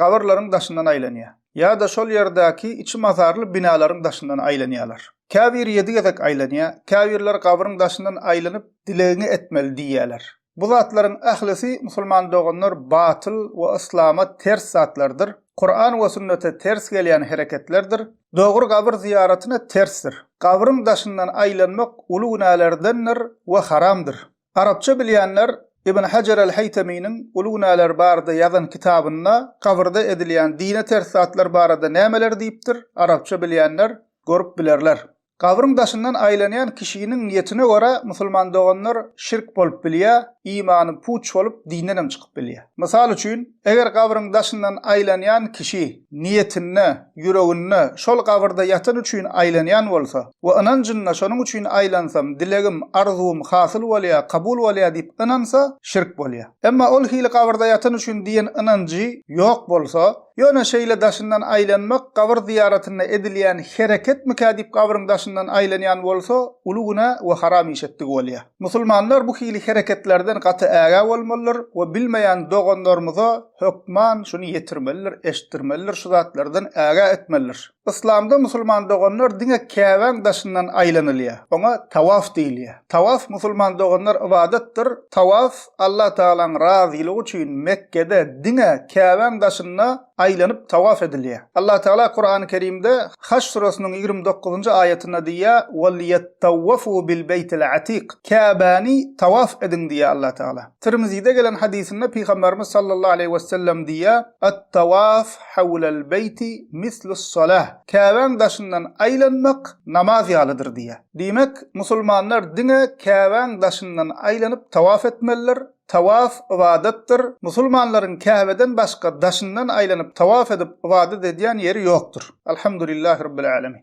gabyrlaryň daşyndan aýlanýar. Ýa-da şol ýerdäki içi mazarly binalaryň daşyndan aýlanýarlar. Käbiri ýedi gezek aýlanýar, käbirleri gabryň daşyndan aýlanyp, dilegiňi etmeli diýýärler. Bu zatlaryň ählisi, musulman doganlar, batyl we yslama ters zatlardyr. Kuran we sünnete ters gelýän hereketlerdir. Dogry gabyr zyýaratyna tersdir. Gabryň daşyndan aýlanmak uly günälerdendir we haramdyr. Arapça bilýänler Ibn Hajar al-Haýtaminiň Uly günäler barada ýazan kitabynda kabyrda edilýän dine ters zatlar barada nämeler diýipdir, arapça bilýänler görüp bilerler. Gabryň daşyndan aýlanýan kişiniň niýetine görä musulman doganlar şirk bolup bilýär, imany puç bolup dinden hem çykyp bilýär. Mysal üçin, Eger gabryň daşyndan aýlanýan kişi niýetinde, ýüreginde şol gabyrda ýatan üçin aýlanýan bolsa we ynanjynda şonuň üçin aýlansam, dilegim, arzuwym hasyl bolýar, kabul bolýar diýip ynansa, şirk bolýar. Emma ol hili gabyrda ýatan üçin diýen ynanjy ýok bolsa, ýöne şeýle daşyndan aýlanmak gabyr zyýaratynda edilýän hereketmikä diýip gabryň daşyndan aýlanýan bolsa, uly günä we haram iş etdigi bolýar. Musulmanlar bu hili hereketlerden gaty ägä bolmalydyr we bilmeýän doganlarymyza hökman şuny ýetirmelidir, eşitdirmelidir, şu zatlardan ägä etmelidir. Yslamda musulman doganlar diňe Käbäň daşyndan aýlanylýar. Oňa tawaf diýilýär. Tawaf musulman doganlar ybadatdyr. Tawaf Allatagalaň razylygy üçin Mekgede diňe Käbäň daşynda aýlanyp tawaf edilýär. Allatagala Kurany Kerimde Haş süresiniň ýigrimi dokuzynjy aýatynda diýýär, Weliýettawwafuu bilbeýtil atik, Käbäni tawaf ediň diýýär Allatagala. Tirmizide gelen hadysynda Pygamberimiz sallallahu aleýhi wesellem diýýär, Attawaf hawlal beýti mislus salah, Käbäň daşyndan aýlanmak namaz ýalydyr diýýär. Diýmek, musulmanlar diňe Käbäň daşyndan aýlanyp tawaf etmelidir, Tawaf ybadatdyr, musulmanlaryň Käbeden başga daşyndan aýlanyp tawaf edip ybadat edýän ýeri ýokdur. Alhamdulillah Rabbil Alemin.